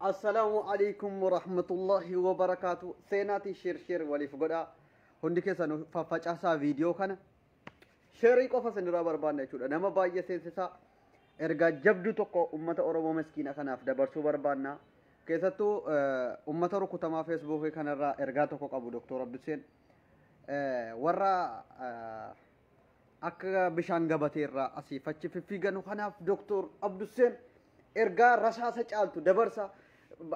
Assalaamu alaikum warahmatullahi wabarakaatu. Seenaatiin sheer sheer waliif godhaa. Hundi keessan faffacaasaa viidiyoo kana. Sheerii qofa isinirraa barbaanna jechuudha. Nama baay'ee seensisaa. Ergaa jabduu tokko uummata Oromoo miskiina kanaaf dabarsuu barbaanna. Keessattuu uummata rukutamaa feesbuukii kanarraa ergaa tokko qabu Dooktor Abduseen. Warra akka bishaan gabatee irraa asiif achi fiffiiganu kanaaf doktor Abdusseen ergaa rasaasa caaltu dabarsa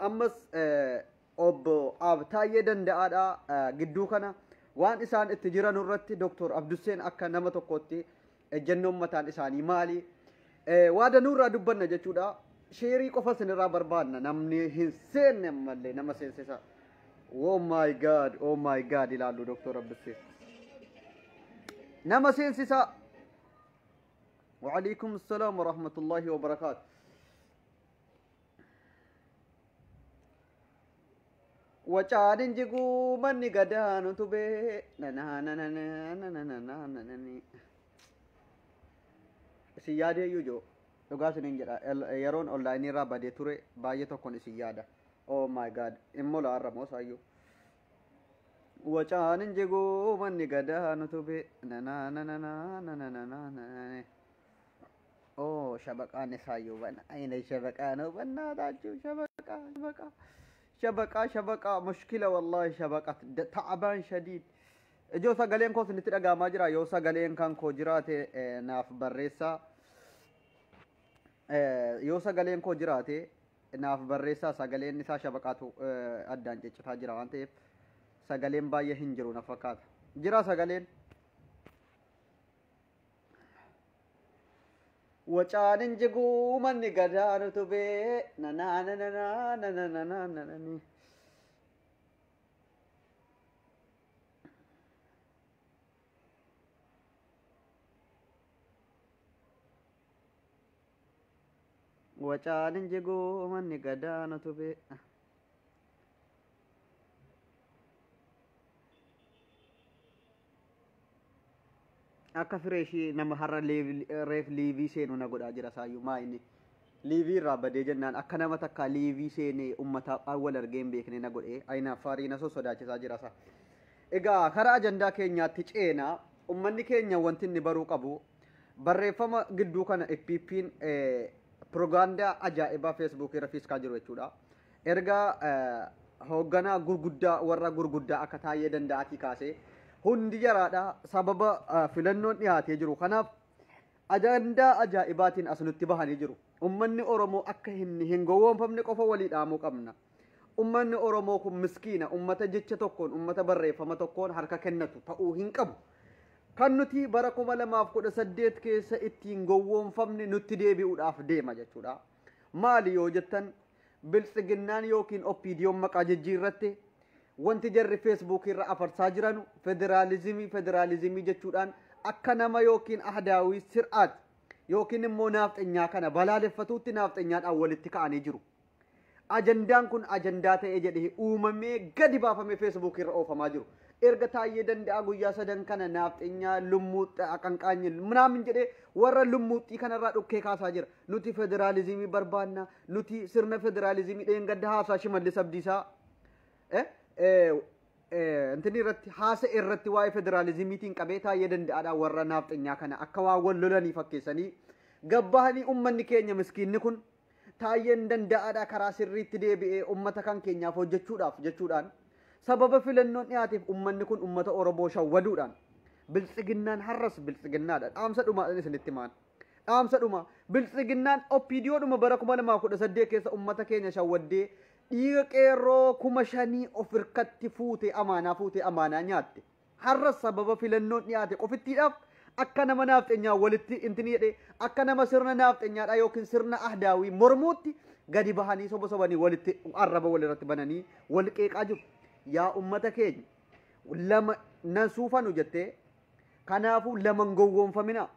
ammas eh, obbo Abtaayyee danda'aadha eh, gidduu kana waan isaan itti jiran irratti doktor Abdusseen akka nama tokkootti ejjennoon mataan isaanii maali Waa danuu irraa dubbanna jechuudha. Sheerii qofa isinirraa barbaanna namni hin seenne ammallee nama seensisa. Oh my god, oh my god ilaallu Dr. Abbissee. Nama seensisa. Wa'alaikum salaam wa rahmatullahi wa barakaatu. Wacaan hin jiguu manni gadaan utubee. Nananananananananananani. Isin yaadee iyyuu joo. Dhugaa isiniin jedha. El- Yeroon onlaayinii irraa badee ture baay'ee tokkon isin yaada. Oh my god. Immoo la'aarra moo saayyuu. Wacaan hin jiguu manni gadaan utubee. Nanananananananananani. Oh shabaqaan isaa yoo bana ayina shabaqaa noo bannaa taachuu shabaqaa shabaqaa shabaqaa shabaqaa mushkila wallaahi shabaqat Da- ta'abaan shadiid ijoo sagaleen koo isinitti dhagaamaa jira yoo sagaleen kan koo jiraate eh, naaf barreessaa Eh, yoo sagaleen koo jiraate naaf barreessaa sagaleen isaa shabaqaatu eh, addaan ciccitaa jira waan ta'eef sagaleen baay'ee hin jiru na fakkaata jira sagaleen Wacaanin jiguu manni gadaan utubee nanaa nanaa nanaa nanaa nananii. Wacaanin jiguu manni gadaan utubee. Akka fireeshii nama har'a leev- reef liivii seenu na godhaa jira saayyuu maa inni liivii irraa badee jennaan akka nama takkaa liivii seenee ummata wal argee hin beekne na godhee ayinaaffaarii na sossodaachisaa jira isaa. Egaa karaa ajandaa keenyaatti ceena ummanni keenya wanti inni baruu qabu barreeffama gidduu kana FPP'n pirogaandaa ajaa'ibaa feesbuukii irra fiiskaa jiru jechuudha. Erga hoogganaa gurguddaa warra gurguddaa akka taa'ee danda'atii kaasee hundi jaraadha sababa filannoon dhiyaatee jiru kanaaf ajandaa ajaa'ibaatiin as nutti bahanii jiru. Ummanni Oromoo akka hin gowwoomfamne qofa walii dhaamuu qabna. Ummanni Oromoo kun miskiina ummata jecha tokkoon ummata barreeffama tokkoon harka kennatu ta'uu hin qabu. Kan nuti bara 2018 keessa ittiin gowwoomfamne nutti deebi'uudhaaf deema jechuudha. Maali yoo jettan biltsiginnaan yookiin oppiidiyoon maqaa jijjiirratte wanti jarri feesbuukii irra afarsaa jiranu federaalizimii federaalizimii jechuudhaan akka nama yookiin ahdaawii sir'aat yookiin immoo naafxenyaa kana balaaleffatuutti naafxenyaadhaan walitti ka'anii jiru. Ajandaan kun ajandaa ta'ee jedhee uumamee gadi baafamee feesbuukii irra oofamaa jiru. Erga taayyee danda'a guyyaa sadan kana naafxenyaa lummuuxxa aqanqaanyi minaamin jedhee warra lummuuxxii kanarraa dhukkee kaasaa jira. nuti federaalizimii barbaanna nuti sirna federaalizimii dheengadda haasaa shimallis abdiisaa eh, eh, eh, intini irratti haasa irratti waa'ee federaalizimiitiin qabee taa'ee danda'aadha warra naafxenyaa kana akka waan wal lolanii fakkeessanii gabbahanii ummanni keenya miskiinni kun taa'een danda'aadha karaa sirriitti deebi'ee ummata kan keenyaaf hojjechuudhaaf jechuudhaan sababa filannoon dhiyaateef ummanni kun ummata Oromoo shawwaduudhaan biltsiginnaan har'as biltsiginnaadha dhaamsa dhumaadhaan isinitti maan. Dhaamsa dhumaa, Biltsiginnaan OPDOdhuma bara 2018 keessa ummata keenya shawwaddee dhiiga qeerroo kuma shanii of irkatti fuutee amaanaa fuutee amaanaa nyaatte. Har'as sababa filannoon dhiyaate qofittiidhaaf akka nama naafxenyaa walitti intini jedhee akka nama sirna naafxenyaadhaa yookiin sirna ahdaawii mormuutti gadi bahanii soba sobanii walitti arraba walirratti bananii wal qeeqaa jiru. Yaa ummata keenya lama nan suufanu jettee Kanaafuu lama hin gowwoomfaminaa.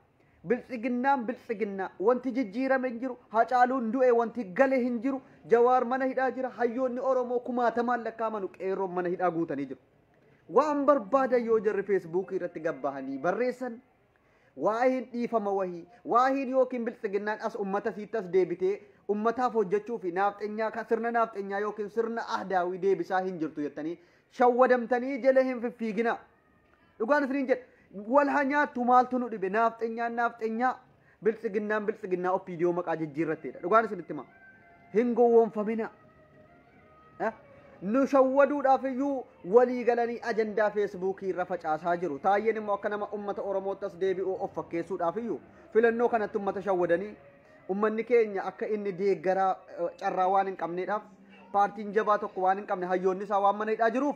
Biltsiginnaan biltsiginnaa. Wanti jijjiirame hin jiru. Hacaaluun du'e wanti gale hin jiru. Jawaar mana hidhaa jira. Hayyoonni Oromoo kumaatamaan lakkaa'amanu qeerroon mana hidhaa guutanii jiru. Waan barbaadan yoo jarri feesbuukii irratti gabbahanii barreessan waa'een dhiifama wahii waa'een yookiin biltsiginnaan as ummata siitti as deebitee ummataaf hojjechuu fi naafxenyaa ka- sirna naafxenyaa yookiin sirna ahdaawii deebisaa hin jirtu jettanii shawwadamtanii jala hin fiffiiginaa. Dhugaan isiniin jedha. Wal haa nyaattu maaltu nu dhibe naafxenyaan naafxenyaa biltsiginnaan biltsiginnaa oppiidiyoo maqaa jijjiirratteedha. Dhugaan isinitti hima. Hin gowwoomfaminaa. Eh? nu shawwaduudhaaf iyyuu walii galanii ajandaa feesbuukii irra facaasaa jiru. Taayyeen immoo akka nama ummata Oromootti as deebi'u of fakkeessuudhaaf iyyuu filannoo kanatti ummata shawwadanii ummanni keenya akka inni deeggaraa eh, carraa waan hin qabneedhaaf paartiin jabaa tokko waan hin qabne hayyoonni isaa waan mana hidhaa jiruuf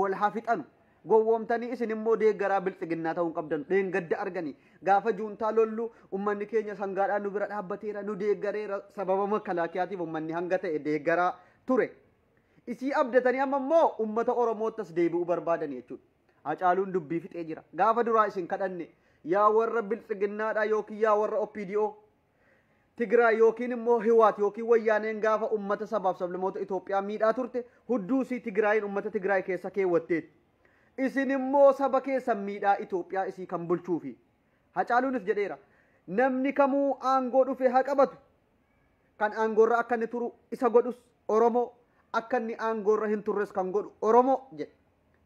wal haa fixanu gowwoomtanii isin immoo deeggaraa bilxiginnaa ta'uu hin qabdan dheengadda arganii gaafa juuntaa lollu ummanni keenya sangaadhaan nu bira dhaabbateera nu deeggareera sababa makalaakiyaatiif ummanni hanga ta'e deeggaraa ture isii abdatanii amma immoo ummata oromoottas deebi'uu barbaadan jechuudha hacaaluun dubbii fixee jira gaafa duraa isin kadhanne yaa warra bilxiginnaadhaa yookiin yaa warra opdo Tigraay yookiin immoo Hiwaat yookiin Wayyaaneen gaafa ummata sabaaf sablamoota Itoophiyaa miidhaa turte hudduu isii Tigraayiin ummata Tigraay keessa keewwatteetti. Isin immoo saba keessan miidhaa Itoophiyaa isii kan bulchuufi. Hacaaluunis jedheera. Namni kamuu aangoo dhufe haa qabatu. Kan aangoorra akka inni turu isa godhus Oromoo, akka inni aangoorra hin turres kan godhu Oromoo jedhe.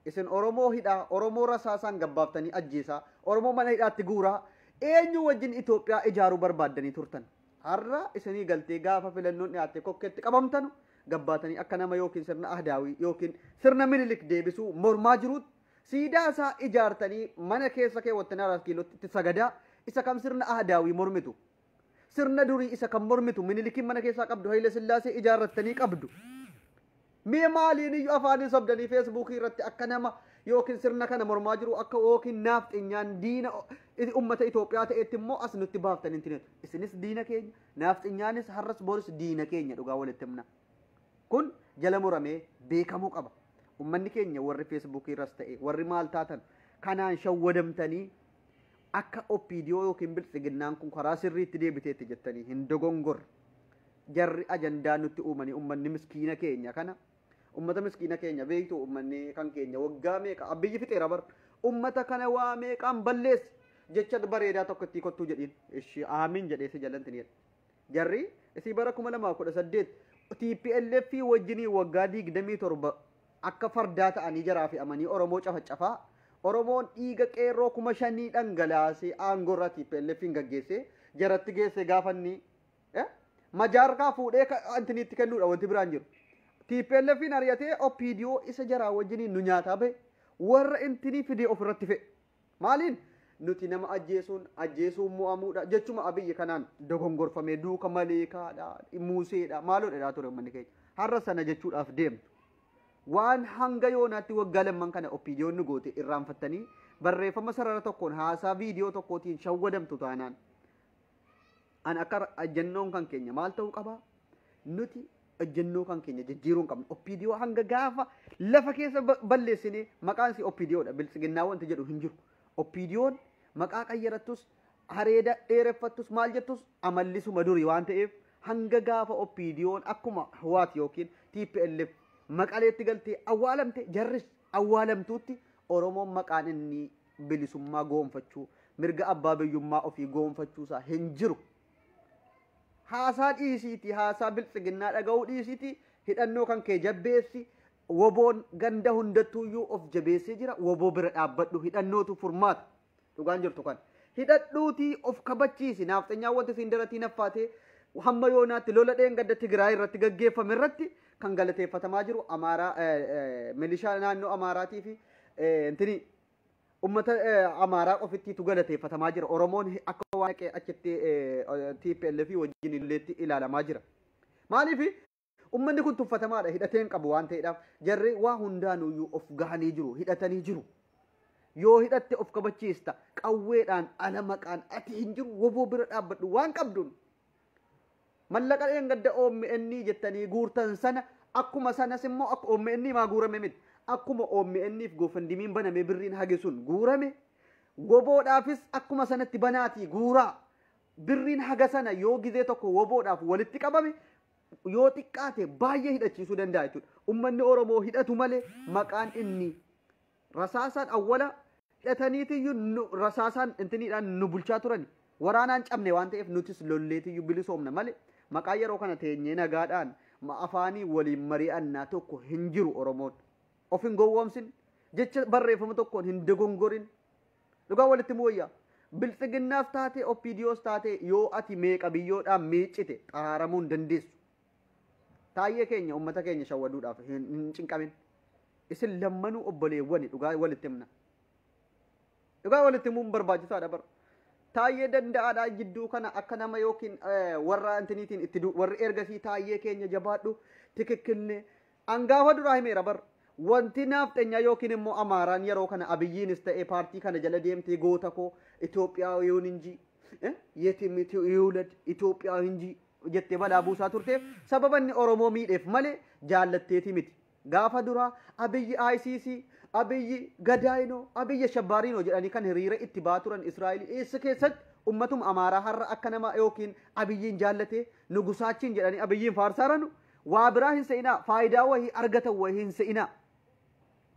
Isin Oromoo hidhaa, Oromoo rasaasaan gabbaaftanii ajjeesaa, Oromoo mana hidhaatti guuraa, eenyuu wajjin Itoophiyaa ijaaruu barbaaddanii turtan? Har'a isinii galtee gaafa filannoon dhiyaatte kokkeetti qabamtanu gabbaatanii akka nama yookiin sirna Ahdaawii yookiin sirna Minilik deebisuu mormaa jiruutti siidaa isaa ijaartanii mana keessa keewwattanii Araat Kiilootti itti sagadaa isa kam sirna Ahdaawii mormitu? Sirna durii isa kan mormitu Minilikiin mana keessaa qabdu Haile Sillaasee ijaarrattanii qabdu. Mee maaliin iyyuu afaaniin sobdanii feesbuukii irratti akka nama yookiin sirna kana mormaa jiru akka yookiin naafxinyaan diina ummata Itoophiyaa ta'etti immoo as nutti baaftanii hin Isinis diina keenya, naafxinyaanis har'as boris diina keenya dhugaa walitti himna. Kun jala muramee beekamuu qaba. Ummanni keenya warri feesbuukii irras ta'e warri maal taatan kanaan shawwadamtanii Akka OPDO yookiin biltsiginnaan kun karaa sirriitti deebiteetti jettanii hin dogongorre. Jarri ajandaa nutti uumanii ummanni miskiina keenya kana ummata miskiina keenya beektu ummanni kan keenya waggaa meeqa abbiyyi fixeera bar ummata kana waa meeqaan balleessi jecha bareedaa tokko ittii kottuu jedhiin ishi aamiin jedhee si jalanti jedhe jarri isii bara 2018 TPLF wajjinii waggaa 27 Akka fardaa ta'anii jaraa fe'amanii Oromoo cafacafaa, Oromoon dhiiga qeerroo kuma shanii dhangalaasee aangoo irraa TPLFn gaggeessee jaratti geessee gaafa inni eh, majaa harkaa fuudhee ka- intiniitti kennuudha wanti biraan hin jiru. TPLFn ari'atee OPDO isa jaraa wajjiniin nu nyaataa bahe warra intinii fidee ofirratti fe'e. Maaliin? Nuti nama ajjeesuun ajjeesuun mo'amuudha jechuma Abiyyi kanaan dogongorfamee duuka maleekaadha, muuseedha, maaloo jedhaa ture uummanni keenya. Har'a sana jechuudhaaf deemtu. Waan hanga yoonaatti waggaa lamman kana oppiidiyoon nu goote irraanfattanii barreeffama sarara tokkoon haasaa viidiyoo tokkootiin shawwadamtu taanaan An akka ejjennoon kan keenya maal ta'uu qaba? Nuti ejjennoo kan keenya jijjiiruu hin qabnu. Oppiidiyoo hanga gaafa lafa keessa ba- balleessinee maqaan isii oppiidiyoodha. Biltsiginnaa wanti jedhu hin jiru. Oppiidiyoon maqaa qayyarattus hareeda dheereffattus maal jettus amallisuma durii waan ta'eef hanga gaafa oppiidiyoon akkuma Hwaat yookiin TPLF maqaleetti galtee awwaalamte jarris awwaalamtuutti Oromoon maqaan inni bilisummaa goonfachuu mirga abbaa biyyummaa ofii goonfachuusaa hin jiru. Haasaa dhiisiitii haasaa biltsiginnaa dhaga'uu dhiisiitii hidhannoo kan kee jabbeessi woboon ganda hundattuuyyuu of jabeessee jira woboo bira dhaabbadhu hidhannootu furmaata dhugaan jirtu kan hidhadhuutii of kabachiisi naafxanyaa wanti siin daratii naffaatee hamma yoonaatti lola dheengadda Tigraay irratti gaggeeffame irratti kan galateeffatamaa jiru amaaraa milishaa naannoo amaaraatii fi intini ummata amaaraa qofittiitu galateeffatamaa jira oromoon akka waan dhaqee achitti tplf wajjin illeetti ilaalamaa jira maaliif ummanni kun tuffatamaadha hidhateen qabu waan ta'eedhaaf jarri waa hundaanuyyuu of gahanii jiru hidhatanii jiru yoo hidhatte of kabachiista qawweedhaan ala maqaan ati hin jiru woboo bira dhaabbadhu waan qabduun Mallaqa dheengadda omn jettanii guurtan sana akkuma sanas immoo akka omn maa guurame miti. Akkuma OMN'f goofandimiin banamee birriin hage sun guurame woboodhaafis akkuma sanatti banaatii guuraa. Birriin haga sana yoo gizee tokko woboodhaaf walitti qabame yoo xiqqaate baay'ee hidhachiisuu danda'a jechuudha. Ummanni Oromoo hidhatu malee maqaan inni Rasaasaan awwala hidhataniitiyyu nu rasaasaan intiniidhaan nu bulchaa turani. Waraanaan cabne waan ta'eef nutis lolleetiyyu bilisoomna malee maqaa yeroo kana teenyee nagaadhaan ma afaanii waliin mari'annaa tokko hin jiru Oromoon. Of hin gowwoomsin. Jecha barreeffama tokkoon hin dogongorin. Dhugaa walitti himuu wayya. Bilxiginnaas taatee OPDOs taatee yoo ati meeqa biyyoodhaan miiccite xaraaramuu hin dandeessu. Taayyee keenya uummata keenya shawwaduudhaaf hin hin cinqamin. Isin lammanuu obboleewwani dhugaa walitti himna. Dhugaa walitti himuun barbaachisaadha bar. Taayyee danda'aadha jidduu kana akka nama yookiin eh, warra intiniitiin itti du warri ergasii taayyee keenya jabaadhu tikikkilne angaafa duraa himeera bar. Wanti naafxenyaa yookiin immoo amaaraan yeroo kana abiyyiinis ta'e paartii kana jala deemtee goota koo Itoophiyaa yoon injii eh, yetim iti- yuulad Itoophiyaa injii jettee balaa buusaa turteef sababa inni Oromoo miidheef malee jaallatteetii miti. Gaafa duraa Abiyyi ICC, Abiyyi Gadaayinoo, Abiyyi Ashabbaariinoo jedhanii kan hiriira itti ba'aa turan Israa'el eessa keessatti ummatuma Amaaraa har'a akka nama yookiin Abiyyiin jaallatee nugusaachiin jedhanii Abiyyiin faarsaaranu waa biraa hin se'inaa faayidaa wahii argatan wahii hin se'inaa.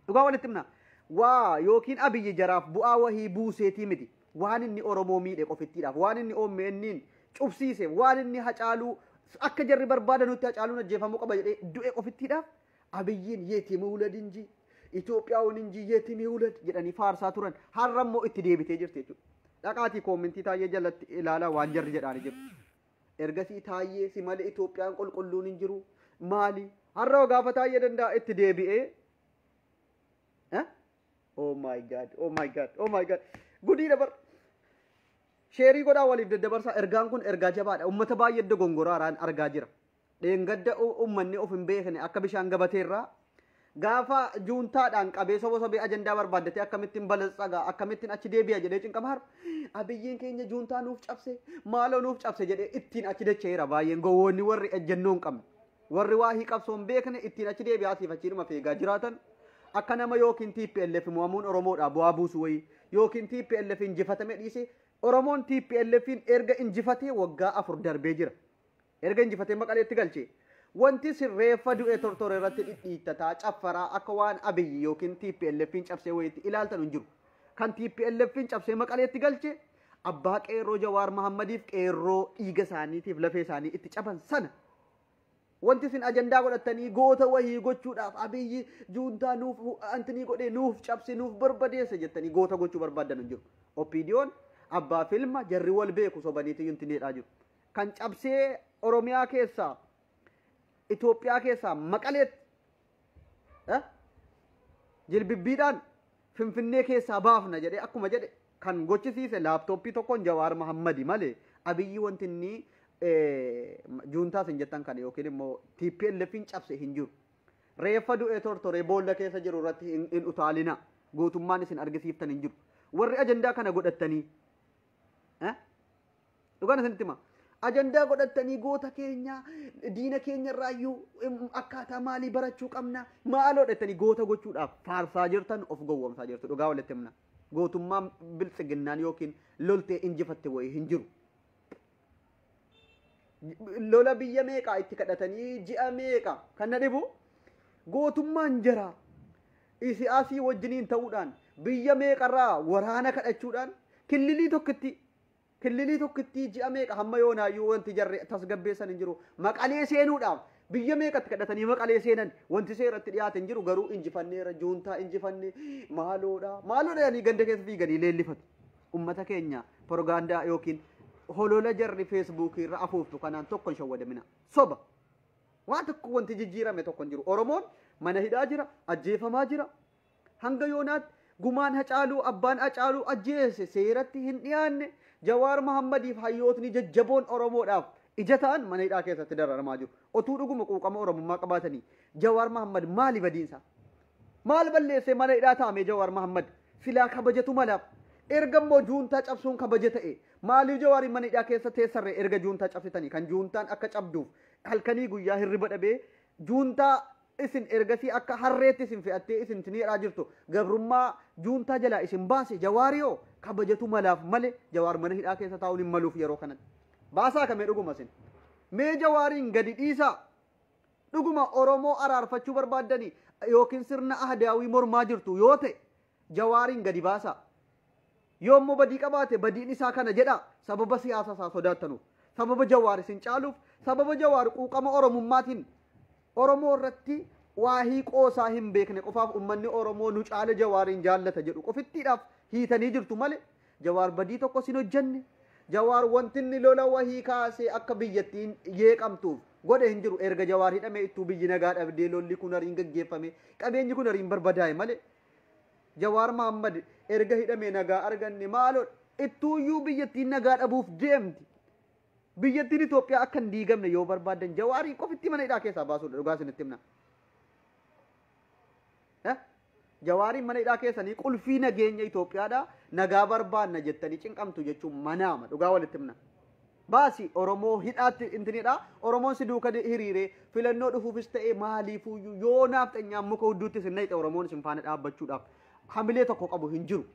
Dhugaa walitti himna. Waa ykn Abiyyi jaraaf bu'aa wahii buuseetii miti. Waan inni Oromoo miidhe qofittiidhaaf, waan inni OMNn cufsiiseef, waan inni Hacaaluu akka jarri barbaadanutti Hacaaluun ajjeefamuu qaba jedhee du'e qofittiidhaaf Abiyyiin yetim iwulad injii, Itoophiyaaun injii yetim iwulad jedhanii faarsaa turan. Har'a immoo itti deebitee jirti jechuudha. Dhaqaatii koomentii Taayyee jalatti ilaalaa waan jarri jedhaani jiru. Ergasii Taayyee si malee Itoophiyaan qulqulluun hin jiru maali? Har'a hogaafa Taayyee danda'a itti deebi'ee. Eh? Oh my god, oh my god, oh my god. Gudii dabar. Sheerii godhaa waliif daddabarsaa ergaan kun ergaa jabaadha. Uummata baay'ee dogongora haraan argaa jira. dheengadda ummanni of hin beekne akka bishaan gabateerraa gaafa juuntaadhaan qabee soba sobee ajandaa barbaaddatee akkamittiin balatsaga akkamittiin achi deebi'a jedhee cinqama har'a abiyyiin keenya juuntaa nuuf cabse maaloo nuuf cabse jedhee ittiin achi dacha'eera baay'een gowwoonni warri ejjennoo hin qabne warri waa hii qabsoo hin beekne ittiin achi deebi'aa siif achiidhuma feegaa jiraatan akka nama yookiin TPLF mo'amuun Oromoodhaa bu'aa buusu wayii yookiin TPLF injifatame dhiisee Oromoon TPLFin erga injifatee waggaa afur darbee jira. Erga injifatee Maqaleetti galche. Wanti isin reeffa du'e tortore irratti dhidhiittataa, caffaraa, akka waan Abiy yookiin TPLF'n cabsee wayiitti ilaaltanu hin jiru. Kan TPLF'n cabsee Maqaleetti galche abbaa qeerroo Jawaar Mahaammadiif qeerroo dhiiga isaaniitiif lafee isaanii itti caban sana. Wanti isin ajandaa godhattanii goota wayii gochuudhaaf Abiy juuntaa nuuf antinii godhee nuuf cabse nuuf barbadeesse jettanii goota gochuu barbaaddanu hin jiru. OPDO'n abbaa filma jarri wal beeku sobaniitu intineedhaa jiru. kan cabsee Oromiyaa keessaa Itoophiyaa keessaa maqaleetti eh, jilbibbiidhaan Finfinnee keessaa baafna jedhee akkuma jedhe kan gochisiise laaptooppii tokkoon Jawaar Mahammadi malee abiyyi wanti inni eh, juuntaas hin jettan kana yookiin immoo TPLF hin cabse hin jiru. Reeffa du'ee tortoree boolla keessa jiru irratti hin hin utaalina gootummaan isin argisiiftan hin jiru. Warri ajandaa kana godhattanii eh, Dhugaan isinitti hima. Ajandaa godhattanii goota keenya diina keenya irraayyuu em, akkaataa maalii barachuu qabna maaloo dhettanii goota gochuudhaaf faarsaa jirtan of gowwomsaa jirtu dhugaa walitti himna. Gootummaa biltsiginnaan yookiin loltee injifatte wayii hin jiru. lola biyya meeqaa itti kadhatanii ji'a meeqa kan na dhibu gootummaan jara isiyaasii wajjiniin ta'uudhaan biyya meeqarraa waraana kadhachuudhaan killilii tokkitti Killilii tokkittii ji'a meeqa hamma yoonaayyuu wanti jarri tasgabbeessan hin jiru. Maqalee seenuudhaaf biyya meeqatti kadhatanii maqalee seenan wanti seeratti dhiyaate hin jiru garuu injifanneera juuntaa injifanne maaloodha maaloodha jedhanii ganda keessa fiiganii leellifatu. Ummata keenya porogaandaa yookiin holola jarri feesbuukii irra afuuftu kanaan tokko hin shawwadamina. Soba. Waan tokko wanti jijjiirame tokko hin jiru. Oromoon mana hidhaa jira, ajjeefamaa jira, Hanga yoonaatti gumaan Hacaaluu abbaan Hacaaluu ajjeese seeratti hin dhiyaanne, Jawaar Mahaammadiif hayyootni jajjaboon Oromoodhaaf ija ta'an mana hidhaa keessatti dararamaa jiru. Otuu dhuguma quuqama Oromummaa qabaatanii Jawaar Mahaammad maali badiinsaa? Maal balleessee mana hidhaa taa'amee Jawaar Mahaammad? Silaa kabajatu malaaf. Erga immoo juuntaa cabsuun kabaja ta'e maaliif Jawaariin mana hidhaa keessa teessarree erga juuntaa cabsitanii kan juuntaan akka cabduuf halkanii guyyaa hirriba dhabee juuntaa Isin ergasii akka harreetti isin fe'attee isin isin hidhaa jirtu gabrummaa juuntaa jalaa isin baase jawaari hoo kabajatu malaaf male jawaar mana hidhaa keessa taa'uun hin maluuf yeroo kanatti. Baasaa kamee dhuguma isin. Mee jawaariin gadi dhiisaa. Dhuguma Oromoo araarfachuu barbaaddanii yookiin sirna ahdaawii mormaa jirtu yoo ta'e jawaariin gadi baasaa. Yoo immoo badii qabaate badiin isaa kana jedhaa sababa siyaasa isaa sodaattanuuf, sababa Jawaar isin caaluuf, sababa Jawaar quuqama Oromummaatiin Oromoo irratti waahii qoosaa hin beekne qofaaf ummanni Oromoo nu caale Jawaariin jaallata jedhu qofittiidhaaf hiitanii jirtu malee Jawaar badii tokkos hin hojjenne, Jawaar wanti inni lola wahii kaasee akka biyyattiin yeeqamtuuf godhe hin jiru. Erga Jawaar hidhamee ittuu biyyi nagaa dhabdee lolli kunariin gaggeeffamee qabeenyi kunariin barbadaa'e malee Jawaar Mahaammad erga hidhamee nagaa arganne maaloo ittuuyyuu biyyattiin nagaa dhabuuf deemti. Biyyattiin Itoophiyaa akka hin diigamne yoo barbaadan jawaarii qofitti mana hidhaa keessaa baasuudha dhugaa isinitti himna. Eh? Jawaariin mana hidhaa keessanii qulfii nageenya Itoophiyaadha nagaa barbaanna jettanii cinqamtu jechuun manaama dhugaa walitti himna. Baasi Oromoo hidhaatti intinidha. Oromoon si duuka de- hiriire filannoo dhufuufis ta'e maaliifuyyuu yoo naafxanyaan muka hudduutti isin nayxe Oromoon isin faana dhaabbachuudhaaf hamilee tokko qabu hin jiru.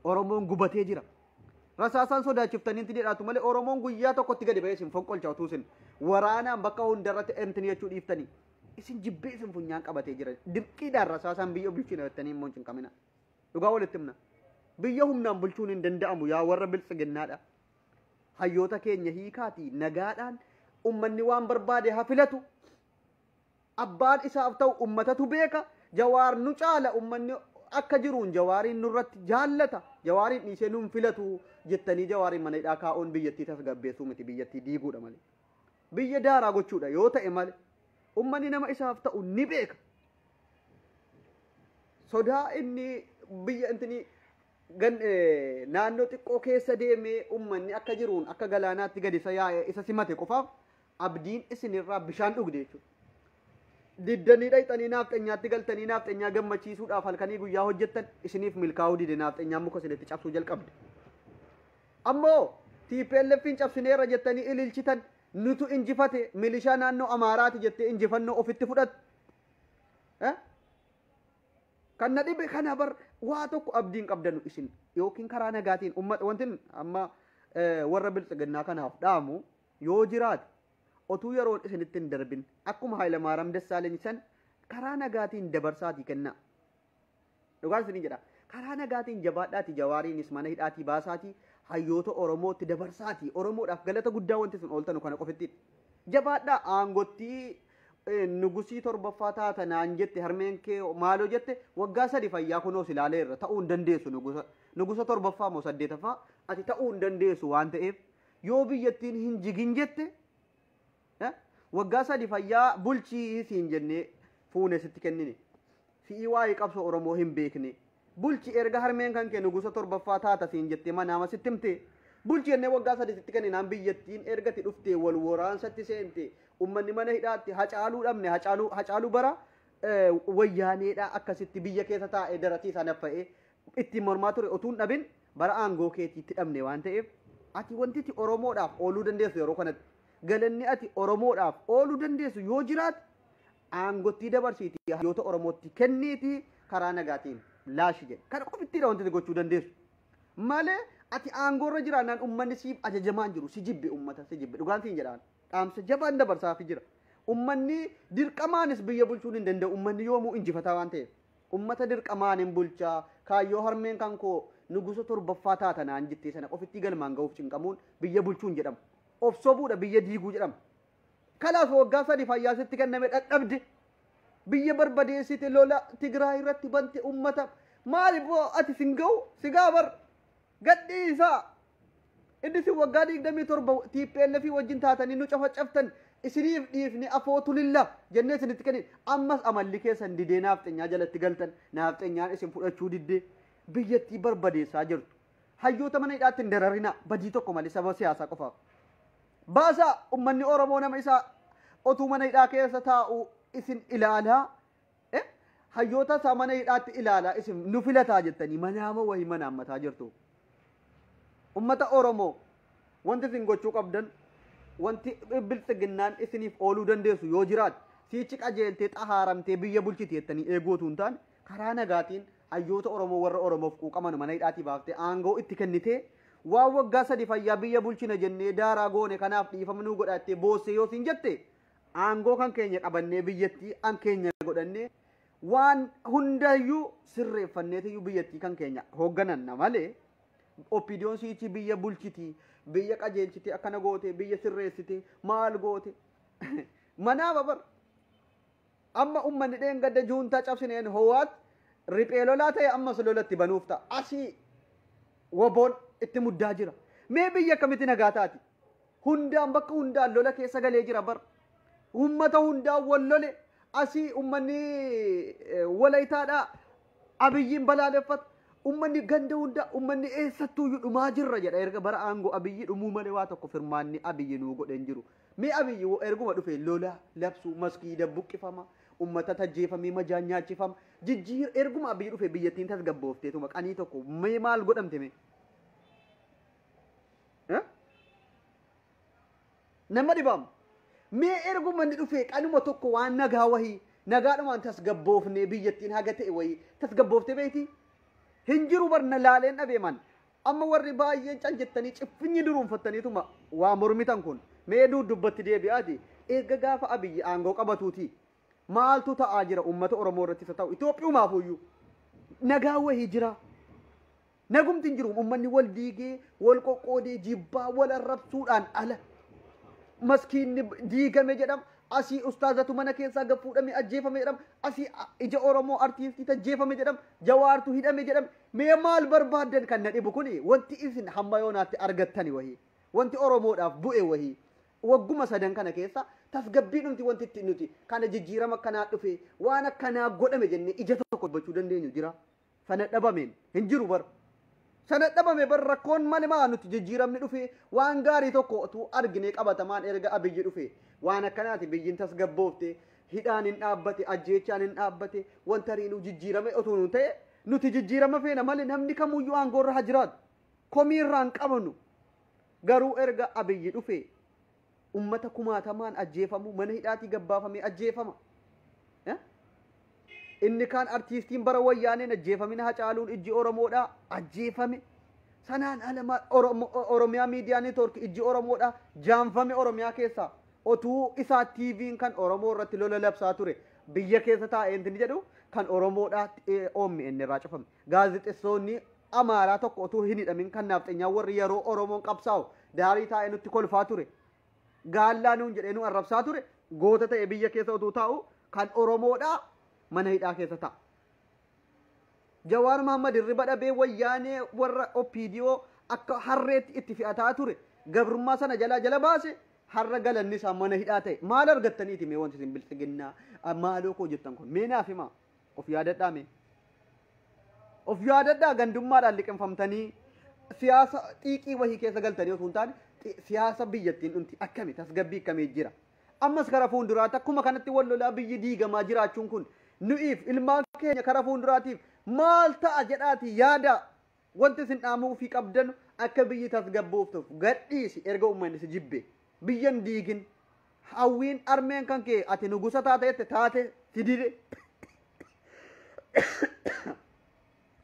Oromoon gubatee jira. Rasaasaan sodaachiftanii intinii dhaatu malee Oromoon guyyaa tokkotti gadi ba'ee isin fonqolcha utuu isin waraanaan bakka hundarratti intinii jechuu dhiiftanii isin jibbee isin funyaan qabatee jira. Dirqiidhaan rasaasaan biyya bulchina jettanii immoo hin cinqamina. Dhugaa walitti himna. Biyya humnaan bulchuun hin danda'amu yaa warra biltsiginnaadha. Hayyoota keenya hiikaatii nagaadhaan ummanni waan barbaade haa filatu. Abbaan isaaf ta'u ummatatu beeka. Jawaar nu caala ummanni akka jiruun jawaariin nurratti jaallata. Jawaariin dhiisee nun filatu jettanii jawaariin mana hidhaa kaa'uun biyyattii tasgabbeessuu miti biyyattii diiguudha malee. Biyya daaraa gochuudha yoo ta'e malee ummanni nama isaaf ta'u ni beeka. Sodaa inni biyya intinii gan- eh, naannoo xiqqoo keessa deemee ummanni akka jiruun akka galaanaatti gadi isa yaa'e isa simate qofaaf abdiin isinirraa bishaan dhugde jechuudha. Diddanii dhayxanii naafxanyaatti galtanii naafxanyaa gammachiisuudhaaf halkanii guyyaa hojjettan isiniif milkaa'uu dide naafxanyaan muka isinitti cabsuu jalqabde. Ammoo TPLFiin cabsineerra jettanii ililchitan nutu injifate milishaa naannoo Amaaraati jettee injifannoo ofitti fudhatte. Eh? Kan na dhibe kana bar waa tokko abdiin qabdanu isin yookiin karaa nagaatiin ummata wantin amma warra biltsiginnaa kanaaf dhaamu yoo jiraate otuu yeroon isinitti hin darbin akkuma Haayilamaaram Dassaaleny san karaa nagaatiin dabarsaatii kennaa. Dhugaan isinii jedha. Karaa nagaatiin jabaadhaatii jawaariinis mana hidhaatii baasaatii hayyoota Oromootti dabarsaatii Oromoodhaaf galata guddaa wanti isin ooltanu kana qofittiin. Jabaadhaa aangottii Nugusii torbaffaa taata naan jette harmeen kee maaloo jette waggaa sadi fayyaa kunoo si ilaalee irra ta'uu hin dandeessu nugusa nugusa torbaffaa moo saddeetaffaa ati ta'uu hin dandeessu waan ta'eef yoo biyyattiin hin jigin jette waggaa sadi fayyaa bulchii siin jennee fuune sitti kennine si'ii waa'ee qabsoo Oromoo hin beekne. Bulchi erga harmeen kan kee nugusa torbaffaa taata siin jettee manaama sitti himte. Bulchi jennee waggaa sadii sitti kenninaan biyyattiin erga ati dhuftee wal waraansatti seente. Ummanni mana hidhaatti hacaaluu dhabne hacaaluu hacaaluu bara eh, wayyaaneedha akkasitti biyya keessa taa'ee darasii isaa naffa'ee ittiin mormaa ture otuu hin dhabin bara aangoo keetii itti dhabne waan ta'eef ati wanti ati Oromoodhaaf ooluu dandeessu yeroo kanatti galanni ati Oromoodhaaf ooluu dandeessu yoo jiraate aangottii dabarsiitii hayyoota Oromootti kenniitii karaa nagaatiin laashi jedhe. Kana qofittiidha wanti ati gochuu dandeessu. Malee ati aangoorra jiraannaan ummanni siif ajajamaa hin jiru. Si jibbe ummata si jibbe. Dhugaan siin jedhaan. Dhaamsa jabaan dabarsaafi jira. Ummanni dirqamaanis biyya bulchuun hin danda'u. Ummanni yoomuu injifataa waan ta'eef. Ummata dirqamaan hin bulchaa. Kaayyoo harmeen kan koo nugusa torbaffaa taata naan jettee sana qofittii galmaan ga'uuf cinqamuun biyya bulchuun jedhamu. Of sobuudha biyya diiguu jedhama. Kanaaf waggaa sadi fayyaa sitti kenname dhadhabde. Biyya barbadeessite lola Tigraay irratti bante ummata. Maali boo ati sin ga'u si ga'a bar gadhii isaa. Inni isin waggaa digdamii torba TPLF wajjin taatanii nu cafacaftan isiniif dhiifne afoo tulilla jennee isinitti kennin. Ammas amalli keessan didee naafxenyaa jalatti galtan. Naafxenyaan isin fudhachuu diddee biyyattii barbadeessaa jirtu. Hayyoota mana hidhaatti hin dararinaa badii tokko malee sababa siyaasaa qofaaf. Baasaa! Ummanni Oromoo nama isaa otuu mana hidhaa keessa taa'uu isin ilaalaa eh, hayyoota isaa mana hidhaatti ilaalaa isin nu filataa jettanii manaama wahi manaammataa jirtu. Ummata Oromoo wanti isin gochuu qabdan wanti biltsiginnaan isiniif ooluu dandeessu yoo jiraate siichi qajeeltee xahaaramtee biyya bulchiti jettanii eeguu otuu hin taane karaa nagaatiin Hayyoota Oromoo warra Oromoof quuqaman mana hidhaatii baaftee aangoo itti kennitee waan waggaa sadi fayyaa biyya bulchina jennee daaraa goone kanaaf dhiifama nuu godhaa jettee boossee yoo siin jette aangoo kan keenya qabannee biyyattii an keenya godhannee waan hundayyuu sirreeffanneetiyyuu biyyattii kan keenya hooggananna malee oppiidiyoon siichii biyya bulchitii biyya qajeelchitee akkana gootee biyya sirreessitee maal goote manaa babar Amma ummanni dheengadda juuntaa cabsineen Hoowaat riphee lolaa ta'e ammas lola itti banuuf ta'a. Asii woboon itti muddaa jira. Mee biyyi akkamitti nagaa taati? Hundaan bakka hundaan lola keessa galee jira bar. Ummata hundaan wal lole asii ummanni walayitaadhaa abiyyiin balaaleffata. Ummanni ganda hundaa ummanni eessattuuyyuu dhumaa jirra jedha erga bara aangoo abiyyii dhumuu malee waa tokko firmaanni abiyyi nuu godhe hin jiru. Mee Abiy wo erguma dhufe lola, labsu, maskiida buqqifama, ummatat ajjeefamee majaan nyaachifama, jijjiir erguma Abiy dhufe biyyattiin tasgabboofteetuma qanii tokko mee maal godhamte mee? Eh? Nama dhibaam. Mee erguma inni dhufe qanuma tokko waan nagaa wahii nagaadhumaan tasgabboofnee biyyattiin haga ta'e wahii tasgabbooftee beektii? Hin jiru barna laaleen dhabeeman. Amma warri baay'een cal jettanii ciffinyi duruunfattaniituma waa mormitan kun mee duudubbatti deebi'aati eegga gaafa Abiyyi aangoo qabatuuti maaltu ta'aa jira uummata Oromoo irrattis haa ta'u Itoophiyumaafuuyyuu nagaa wahii jiraa? Nagumti hin jiru uummanni wal diigee wal qoqqoodee jibbaa wal arrabsuudhaan ala maskiinni diigame jedhama asii ustaazatu mana keessaa gad fuudhame ajjeefame jedhama asii ija Oromoo artiistii tajjeefame jedhama jawaartu hidhame jedhama Mee maal barbaaddan kan na dhibu kuni wanti isin hamma yoonaatti argattani wahii wanti oromoodhaaf bu'e wahii wagguma sadan kana keessa tasgabbiidhumti wanti itti nuti kana jijjiirama akkanaa dhufe waan akkanaa godhame jennee ija tokko dubbachuu dandeenyu jira sana dhabameen hin jiru bar sana dhabame bar rakkoon mali maa nuti jijjiiramni dhufe waan gaarii tokko utuu arginee qabatamaan erga abiyyi dhufe waan akkanaati biyyiin tasgabboofte hidhaan hin dhaabbate ajjeechaan hin dhaabbate wanta riinuu jijjiirame utuu nu ta'e Nuti jijjiirama feena male namni kamuyyuu aangoo irra ha jiraatu. Komii irraa hin qabnu. Garuu erga Abiyyi dhufee ummata kumaatamaan ajjeefamu mana hidhaatii gabbaafamee ajjeefama. Eh? Inni kaan artiistiin bara wayyaaneen ajjeefamina hacaaluun ijji Oromoodhaa ajjeefame. Sanaan ala maal Oromo- Oromiyaa miidiyaa neetwoorkii ijji Oromoodhaa jaamfame Oromiyaa keessaa otuu isaa TVn kan Oromoo irratti lola labsaa ture biyya keessa taa'ee inni jedhu kan Oromoodhaa OMN irraa cufame. Gaazexessoonni Amaaraa tokko otuu hin hidhamin kan naafxenyaa warri yeroo Oromoon qabsaa'u daarii taa'ee nutti kolfaa ture. Gaallaa nuun jedhee nu arrabsaa ture goota ta'e biyya keessa otuu taa'u kan Oromoodhaa mana hidhaa keessa ta'a. Jawaar Mahaammad hirriba dhabee wayyaanee warra OPDO akka harreetti itti fe'ataa ture gabrummaa sana jalaa jala baase har'a galanni isaa mana hidhaa ta'e maal argattaniiti mee wanti isin bilxiginnaa ah, maaloo koo jettan kun mee naaf himaa of yaadadhaa mee of yaadadhaa gandummaadhaan liqinfamtanii siyaasa xiiqii wahii keessa galtanii osoo hin taane xi- siyaasa biyyattiin dhumti akkami tasgabbii akkamii jira Ammas kara fuulduraatti akkuma kanatti wal lolaa biyyi diigamaa jiraachuun kun nu'iif ilmaan keenya kara fuulduraatiif maal ta'a jedhaati yaadaa wanti isin dhaamuu fi qabdanu akka biyyi tasgabbooftuuf gadhiisi erga uummanni si jibbe biyyan diigin hawwiin armeen kan kee ati nugusa taate jette taate si dide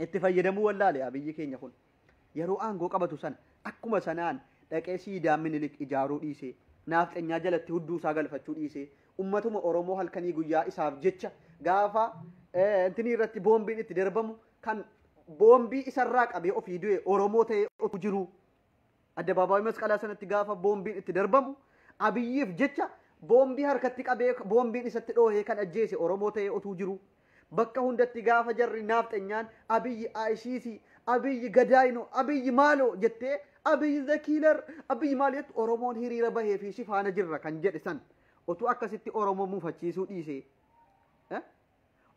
itti fayyadamuu wallaale yaa biyyi keenya kun. Yeroo aangoo qabatu sana akkuma sanaan dhaqee siidaa Minilik ijaaruu dhiisee, naafxenyaa jalatti hudduu isaa galfachuu dhiisee, ummatuma Oromoo halkanii guyyaa isaaf jecha gaafa eh, intinii irratti boombiin itti darbamu kan boombii isarraa qabee ofii du'e Oromoo ta'ee otuu jiruu Addabaabaayii masqalaa sanatti gaafa boombiin itti darbamu abiyyiif jecha boombii harkatti qabee boombiin isatti dhoohee kan ajjeese Oromoo ta'ee otuu jiru. Bakka hundatti gaafa jarri naafxenyaan abiyyi ICC, abiyyi gadaayino, abiyyi maaloo jettee abiyyi the killer, abiyyi maal jettu Oromoon hiriira bahee fi si faana jirra kan jedhe san otuu akkasitti Oromoo mufachiisuu dhiisee.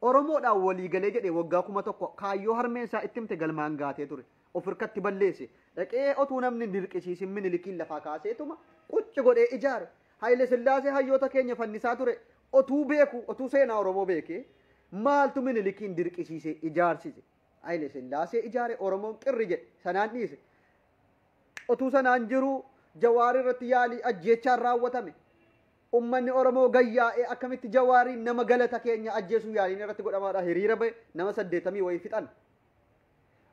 Oromoodhaan walii galee jedhee waggaa 1000 kaayyoo harmeen isaa itti himte galmaan gaatee ture. Of hirkatti balleesse. Dhaqee otuu namni hin dirqisiisin Minilikiin lafaa kaaseetuma qucci godhee ijaare. Hayile Sillaasee hayyoota keenya fannisaa ture. Otuu beekuu, otuu seenaa Oromoo beekee maaltu Minilikiin dirqisiisee ijaarsise? Hayile Sillaasee ijaare Oromoon qirri jedhe. Sanaan dhiise. Otuu sanaan jiruu Jawaar irratti yaalii ajjeechaan raawwatame. Ummanni Oromoo gayyaa'ee akkamitti Jawaariin nama galata keenya ajjeesuu yaaliin irratti godhamaadha hiriira ba'e nama saddeetamii wayii fixan.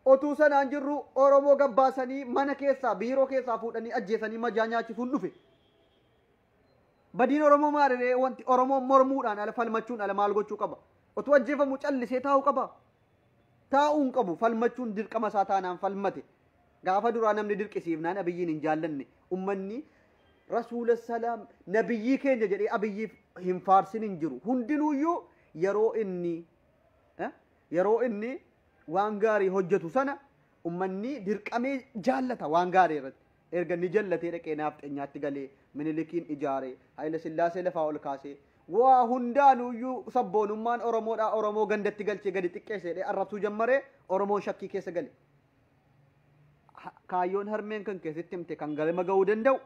Otuu sanaan jirru Oromoo gabbaasanii mana keessaa biiroo keessaa fuudhanii ajjeesanii majaa nyaachisuun dhufe. Badiin Oromoo maaliree wanti Oromoon mormuudhaan ala falmachuun ala maal gochuu qaba? Otuu ajjeefamu callisee taa'uu qaba? Taa'uu hin qabu falmachuun dirqama isaa taanaan falmate. Gaafa duraa namni dirqisiifnaan Abiyyiin hin jaallanne. Ummanni Rasuula salaam nabiyyii keenya jedhee Abiyyiif hin faarsin hin jiru. Hundinuuyyuu yeroo inni eh, yeroo inni waan gaarii hojjetu sana ummanni dirqamee jaallata waan gaarii irratti. Erga ni jallatee dhaqee naafxenyaatti galee minilikiin ijaaree Hayila Sillaasee lafaa ol kaasee waa hundaanuuyyuu sabboonummaan Oromoodhaa Oromoo gandatti galchee gadi xiqqeesseedhee arrabsuu jammaree Oromoon shakkii keessa gale. kaayyoon harmeen kan keessatti himte kan galma ga'uu danda'u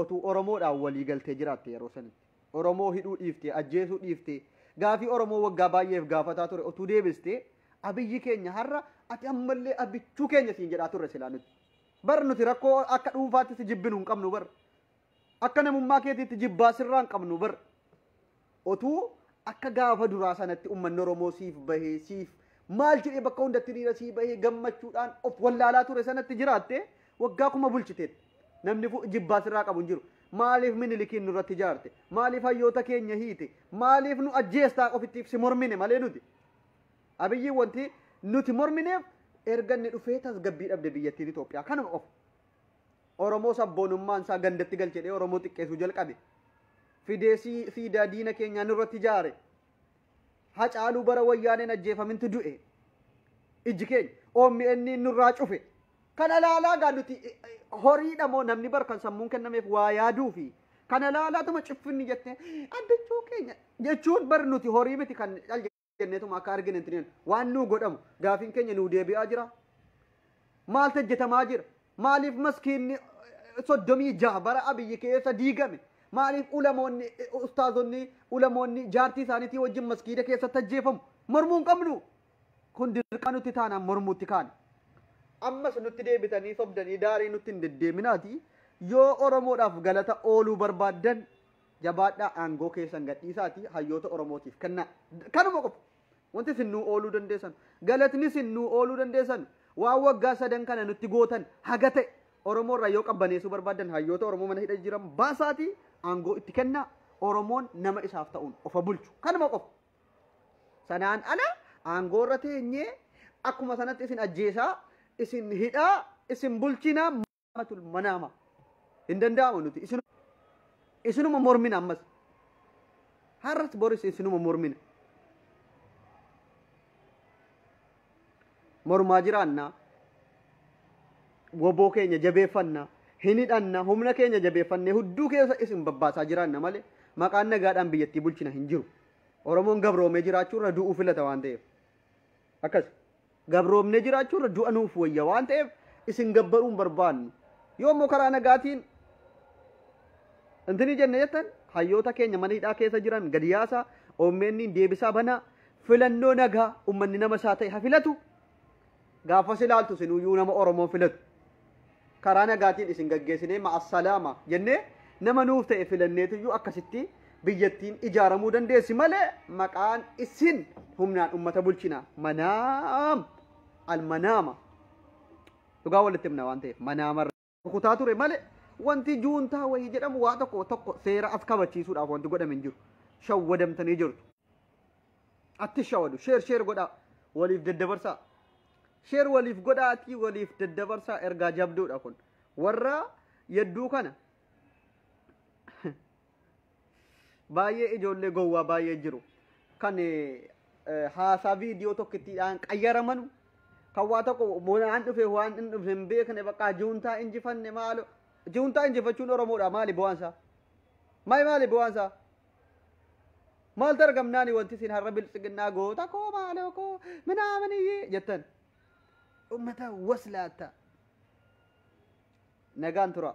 otuu Oromoodhaan walii galtee jiraatte yeroo sanitti. Oromoo hidhuu dhiiftee, ajjeesuu dhiiftee, gaafii Oromoo waggaa baay'eef gaafataa ture otuu deebistee abiyyi keenya har'a ati ammallee abichuu keenya siin jedhaa turre silaa nuti. Bar nuti rakkoo akka dhuunfaatti si jibbinu hin qabnu bar. Akka namummaa keetiitti jibbaa sirraa hin qabnu bar. Otuu akka gaafa duraa sanatti uummanni Oromoo siif bahee siif maal jedhee bakka hundatti hiriira sii bahee gammachuudhaan of wallaalaa ture sanatti jiraatte waggaa kuma bulchiteetti. Namni fu- jibbaa sirraa qabu hin jiru. Maaliif minilikiin nurratti ijaarte? Maaliif hayyoota keenya hiite? Maaliif nu ajjeestaa ofittiif si mormine malee nuti? Abiyyi wanti nuti mormineef erga inni dhufee tasgabbii dhabde biyyattiin Itoophiyaa kanuma qofa. Oromoo sabboonummaan isaa gandatti galchedhee Oromoo xiqqeessuu jalqabe. Fidee sii- siidaa diina keenyaa nurratti ijaare. Hacaaluu bara wayyaaneen ajjeefamintu du'e. Ijji keenya OMN nurraa cufe. Kana ilaalaa gaa nuti eh, eh, horiidha moo namni bar kan sammuun kennameef waa yaaduu fi kana ilaalaatuma ciffinni jettee abbichuu keenya jechuun bar nuti horii miti kan cal kenneetuma akka argine hin waan nuu godhamu gaafiin keenya nuu deebi'aa jira maal tajjetamaa jira maaliif maskiinni eh, soddomii jaha bara abiyyi keessa diigame maaliif ulamoonni eh, ustaazonni ulamoonni jaartii isaaniitii wajjin maskiida keessa tajjeefamu mormuu hin qabnu kun dirqama nutti taanaan mormuutti kaane. ammas nutti deebitanii sobdanii daarii nutti hin deddeeminaati yoo oromoodhaaf galata ooluu barbaaddan Jabaadhaa aangoo keessan gadhiisaatii hayyoota Oromootiif kennaa. Kanuma qofa. Wanti isin nuu ooluu dandeessan. Galatni isin nuu ooluu dandeessan. Waan waggaa sadan kana nutti gootan haga ta'e Oromoo irraa yoo qabbaneessuu barbaadan hayyoota Oromoo mana hidha jiran baasaatii aangoo itti kennaa. Oromoon nama isaaf ta'uun ofa bulchu. Kanuma qofa. Sanaan ala aangoo irra teenyee akkuma sanatti isin ajjeesaa, isin hidhaa, isin bulchinaa. tul manaama hin danda'amu nuti isin isinuma mormina ammas har'as boris isinuma mormina mormaa jiraannaa woboo keenya jabeeffanna hin hidhanna humna keenya jabeeffanne hudduu keessa isin babbaasaa jiraanna malee maqaan nagaadhaan biyyattii bulchina hin jiru oromoon gabroomee jiraachuu irra du'uu filata waan ta'eef akkas Gabroomnee jiraachuu irra du'a nuuf wayya waan ta'eef isin gabbaruu hin barbaannu. Yoo immoo karaa nagaatiin intini jenne jettan hayyoota keenya mana hidhaa keessa jiran gadi yaasaa OMNiin deebisaa banaa filannoo nagaa ummanni nama isaa ta'e ha filatu gaafas ilaaltu sinuyyuu nama Oromoon filatu. karaa nagaatiin isin gaggeessinee ma'assalaama jennee nama nuuf ta'e filanneetuyyuu akkasitti biyyattiin ijaaramuu dandeessi malee maqaan isin humnaan ummata bulchina manaam almanaama dhugaa walitti himna waan ta'eef manaama rukutaa ture malee wanti juuntaa wayii jedhamu waa tokko tokko seera as kabachiisuudhaaf wanti godhame hin jiru shawwadamtanii jirtu. atti shawadu sheer sheer godhaa waliif daddabarsaa sheer waliif godhaa atti waliif daddabarsaa ergaa jabduudha kun warra yadduu kana baay'ee ijoollee gowwaa baay'ee jiru kan haasaa viidiyoo tokkittiidhaan qayyaramanu kan waa tokko waan dhufe waan hin dhufne hin beekne bakka juuntaa injifanne maalo juuntaa injifachuun oromoodha maali bu'aansaa maali maali bu'aansaa Maaltu argamnaani wanti isin har'a biltsiginnaa goota koo maaloo koo minaaminiyyi jettan. Uummata waslaatta. Nagaan tura.